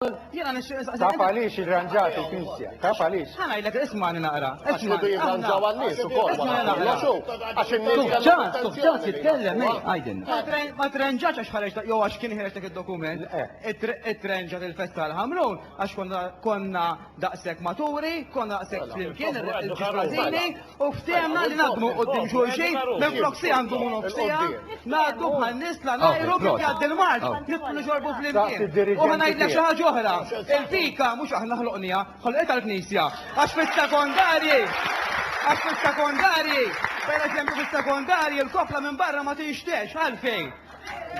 Taf għaliex irranġat il-Knisja? Taf għaliex? Ħa ngħidlek ismani naqra. Ismani irranġaw għan-nies ukoll. Ismani naqra. Għax in-nies ġat, ġat jitkellem għajdin. Ma trenġax għax ħareġ jew għax kien ħireġ dak id-dokument. Itrenġat il-festa tal-Ħamrun għax konna daqshekk maturi, konna daqshekk flimkien, U ftehemna li naħdmu quddiem xulxin minflok siegħa ndumu nofs siegħa, ngħaddu bħal nies la ngħajru kif jgħaddi l-mard, nidħlu nixorbu flimkien. U ħa ngħidlek xi ħaġa oħra, il-fika mhux aħna ħloqniha, ħolqitha l-Knisja. Għax fis-sekondarji, għax fis-sekondarji, pereżempju fis-sekondarji l-kofla minn barra ma tinxtex, għalfejn?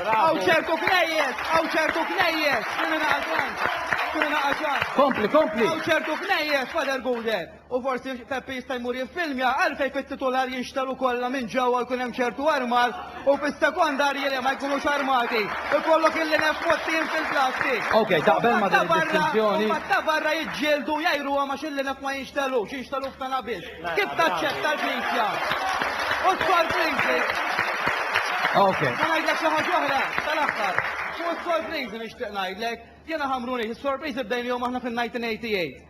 Hawn ċertu knejjes, hawn ċertu knejjes, kien ingħaqad Kompli, kompli. Hawn ċertu knejjes, Father Guder. U forsi Peppi jista' jmur jiffilmja għalfejn fit-titular jinxtelu kollha minn ġewwa jkun hemm ċertu armar u fis-sekondarji le ma jkunux armati. Ikollok il-linef mgħottin fil-plasti. Ok, taqbel ma' din id-distinzjoni? Mbagħad ta' barra jiġġieldu jgħiruhom għax il-linef ma jinxtelux, jinxtelu f'tana biss. Kif taċċetta l-Knisja? U s-sorpriżi? Ok. Ma ngħidlek xi ħaġa oħra, tal-aħħar. U s-sorpriżi nixtieq ngħidlek, jiena ħamruni, is-sorpriżi bdejnihom aħna fin-1988.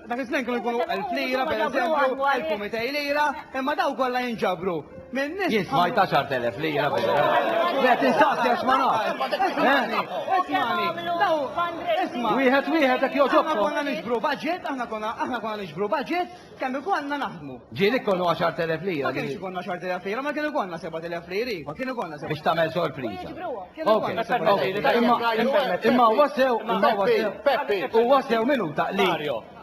Dak iż-żmien kienu jkunu elf lira, pereżempju, 1200 lira, imma dawn kollha jinġabru minn nies. Jien smajt 10,000 lira fil-ġurnata. Qed insaqsi għax ma nafx. Ismani, ismani, daw isma'. Wieħed wieħed hekk joġobkom. Aħna konna niġbru budget, aħna konna aħna konna niġbru budget kemm ikollna naħdmu. Ġie li konu għaxart elef lira. Ma kienx ikonna għaxart elef lira, ma kien ikonna sebat elef lira, iva, kien ikonna sebat. Biex tagħmel sorpriża. Imma huwa sew, imma huwa sew. Peppi, huwa sew minuta li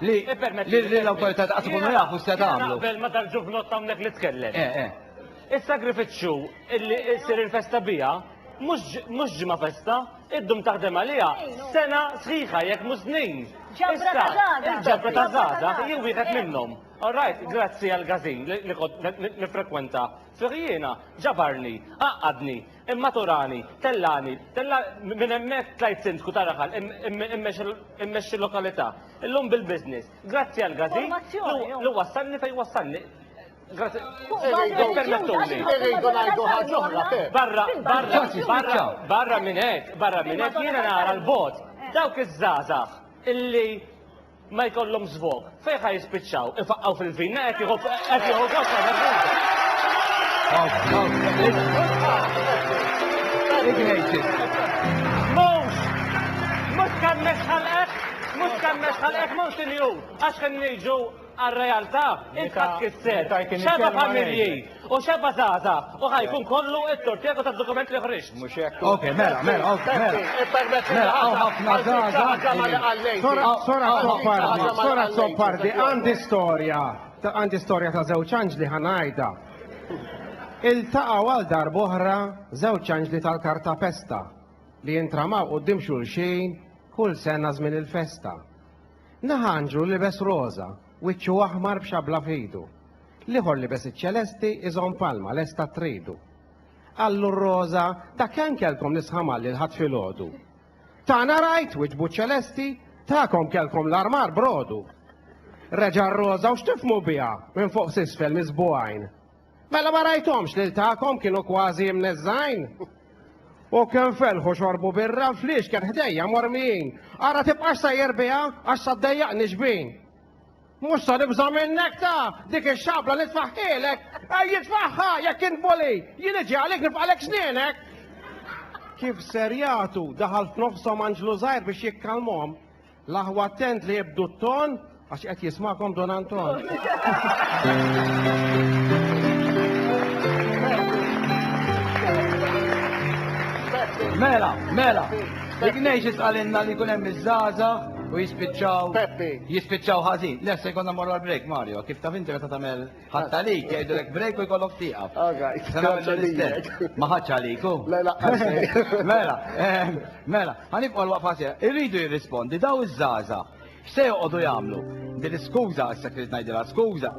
li l-awtorità ta' tkunu jafu se tagħmlu. Qabel ma tal-ġuvnot hawnhekk li tkellem. Eh, eh. Is-sagrifiċċju li ssir il-festa biha mhux ġimgħa festa, iddum taħdem għaliha sena sħiħa jekk mhux snin. Ġabra ta' żgħażagħ. Il-ġabra ta' żgħażagħ hi wieħed minnhom. All right, grazzi għall-gazin li kont nifrekwenta fih jiena, ġabarni, għaqqadni, immaturani, tellani, minn hemmhekk tlajt Sindku ta' Raħal immexxi lokalità, illum bil-business, grazzi għall-gazin li wassalni fejn wassalni. Ippermettuli. Irridu ngħidu ħaġa oħra, Pep. Barra, barra, barra, barra minn hekk, barra minn hekk jiena nara l-bogħod dawk iż-żgħażagħ illi Ma jkollhom żvog. Fejn ħa jispiċċaw? Ifaqqgħu fil-vina qed jieħu qed jieħu gost Mhux! Mhux kemm nixħalqek, mhux kemm nixħalqek mhux il-jum, għax kemm niġu għar-realtà, il-ħadd kisser, xeba familji, U xebba żgħażagħ, u ħa jkun kollu t-tort tiegħek u tad-dokument li ħriġt. Mhux hekk. Ok, mela, mela, ok, mela. Senti, ippermetti li Mela, hawn ħafna għal dik xi ħaġa ma li żgħażagħ. qalejt. Sora, sora Hawn ħafna Azzopardi, ħaġa ma li sora qalejt. Azzopardi, għandi storja. ta- Għandi storja ta' żewġ anġli ħa ngħidha. Iltaqgħu għal darb'oħra żewġ anġli tal-kartapesta li jintramaw quddiem xulxin kull sena żmien il-festa. Naħa anġlu libes roża, wiċċu aħmar b'xabla f'idu. L-ieħor libes iċ-ċelesti iżomm palma lesta tridu. Qallu r-roża, dak ankelkom li sħamalli l-Ħadd filgħodu. Tagħna rajt, wiġbu ċ-ċelesti, tagħkom kellkom l-armar brodu. Reġa' r-roża u x'tifhmu biha minn fuq s'isfel miżbugħajn. Mela ma rajthomx lil tagħkom kienu kważi imneżżgħin? U kemm felħu xorbu birra fliex kien ħdejja mormijin. Ara tibqax sejjer biha għax saddejjaqni xbin. Mhux sa nibża' minnek ta! Dik ix-xabla li tfaħħilek! Ejj itfagħha jekk int bully! Jien niġi għalik nifqalek snienek! Kif ser jagħtu, daħal f'nofshom anġlu żgħir biex jikkalmhom. L-aħwa attent li ibdu t-ton għax qed jismakom Don Anton. Mela, mela, dik ngħix isqalinna li jkun hemm iż-żgħażagħ U jispiċċaw. Peppi. Jispiċċaw ħażin. Le, se jkollna morru għal break, Mario. Kif taf inti meta tagħmel ħadd għalik, jgħidulek break u jkollok tieqaf. All right. Se nagħmlu l-istess. Ma ħadx għalik hu. Le, laqqas. Mela, ehm, mela, ħanibqgħu l-waqfa sejra. Irridu jirrispondi daw iż-żgħażagħ. X'se joqogħdu jagħmlu? Din iskuża issa trid ngħidilha skuża.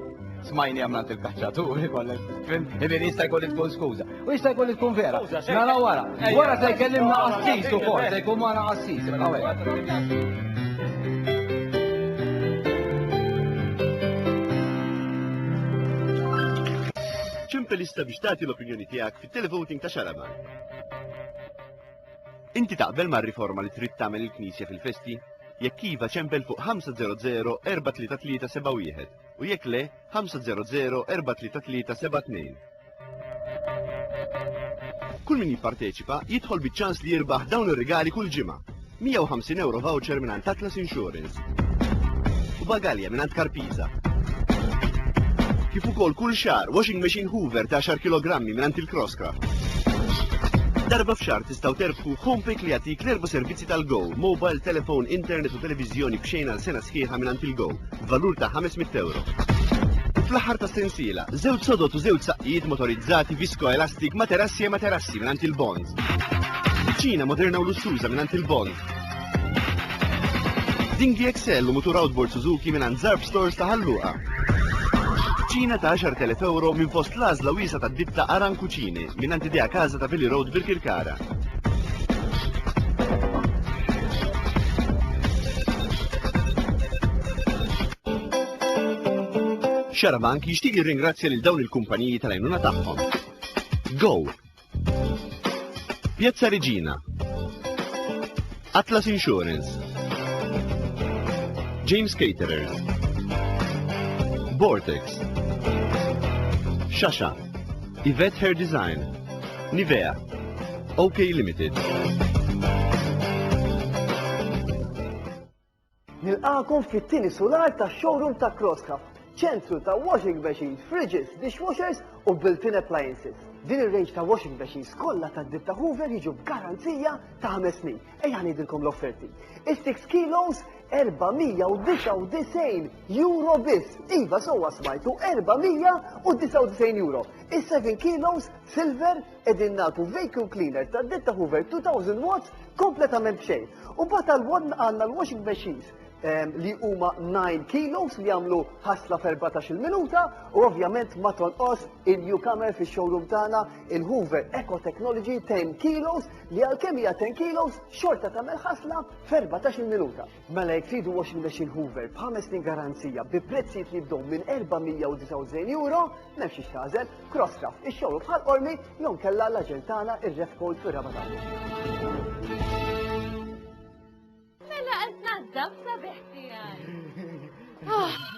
Smajni għamlant il-kaċċatur, ikollek, fim, ibirista jkolli tkun skuża. U jista' jkun li tkun vera. Nara wara. Wara se jkellimna qassis ukoll, se jkun magħna qassis. Ċimpa lista biex tagħti l-opinjoni tiegħek fit-televoting ta' Xalaba. Inti taqbel mar-riforma li trid tagħmel il-Knisja fil-festi? Jekk iva ċempel fuq 500 433 u jekk le 500 433 72. Kull min jipparteċipa jidħol biċ-ċans li jirbaħ dawn ir-rigali kull ġimgħa. 150 euro voucher minn għand Atlas Insurance. U bagalja minn għand Karpiza. Kif ukoll kull xar washing machine Hoover ta' 10 kg minn għand il-Crosscraft. Darba f'xar tistgħu terbħu Homepay li jagħtik l-erba' servizzi tal-Go, mobile, telefon, internet u televiżjoni b'xejn għal sena sħiħa minn għand il-Go. b'valur ta' 500 ewro. U fl-aħħar tas-sensiela, żewġ sodod u żewġ saqqijiet motorizzati viskoelastik materassi e materassi mingħand il-Bond. Kuċina moderna u lussuża mingħand il-Bond. Ding DXL u mutur outboard Suzuki mingħand Zarb Stores ta' Ħalluqa. Kuċina ta' 10,000 ewro minn fost l-għażla wiesa' tad-ditta Aran Kuċini mingħand Idea Casa ta' Billy Road Birkirkara. Xarabank jixtieq jirringrazzja lil dawn il-kumpaniji tal-għajnuna tagħhom. Go! Piazza Regina, Atlas Insurance. James Caterers. Vortex. Shasha. Yvette Hair Design. Nivea. OK Limited. Nilqagħkom fit-tieni sular tax-showroom ta' Crosscraft, ċentru ta' washing machines, fridges, dishwashers u built-in appliances. Din ir-range ta' washing machines kollha tad-ditta Hoover jiġu b'garanzija ta' ħames snin. Ejja ngħidilkom l-offerti. Is-six kilos 499 euro biss. Iva sewwa smajtu 499 euro. Is-seven kilos silver Qegħdin nagħtu vacuum cleaner ta' ditta Hoover 2000 watts kompletament b'xejn. U mbagħad għal wadna għandna l-washing machines ehm, li huma 9 kilos li jagħmlu ħasla f'14 minuta u ovvjament ma tonqos il-newcomer fix-showroom tagħna il-Hoover Eco Technology 10 kilos li għalkemm hija 10 kilos xorta tagħmel ħasla f'14 minuta. Mela jekk tridu washing machine Hoover b'ħames snin garanzija bi prezzijiet li jibdew minn 499 euro, m'hemmx xiex tagħżel, Crosscraft, ix-xogħol bħal Qormi jew nkella l-aġent tagħna ir-Refcold fir-Raba' Tawwil. Mela qed tnaddaf sabiħ tiegħi. Ah!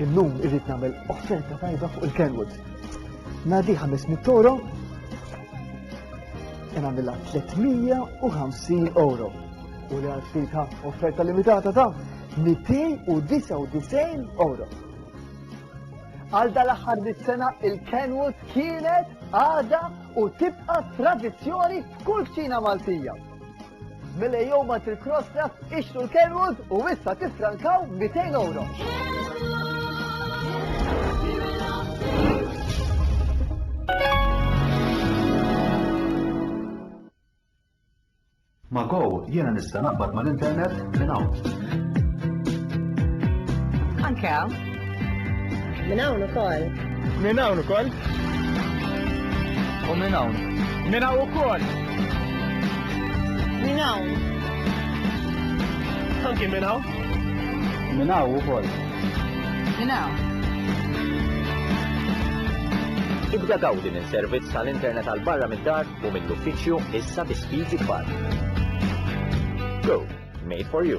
Illum irrid nagħmel offerta tajba fuq il-Kenwood. Nadi 500 euro, e nagħmilha 350 euro. U li għalfitha offerta limitata ta' 299 euro. Għal dal-aħħar sena il-Kenwood kienet għada u tibqa' tradizzjoni f'kull kċina Maltija. Mela jew ma til-krostra, ixtu l-Kenwood u issa tifrankaw 200 euro. Ma' Go jiena nista' naqbad mal-internet minn hawn. Anke hawn. Minn hawn ukoll. Minn hawn ukoll. U minn hawn. Minn hawn ukoll. Minn hawn. Anki minn hawn. Minn hawn ukoll. Minn hawn. Ibda gawdi minn servizz tal-internet għal barra mid-dar u mill-uffiċċju issa bi speeds ikbar. Go, made for you.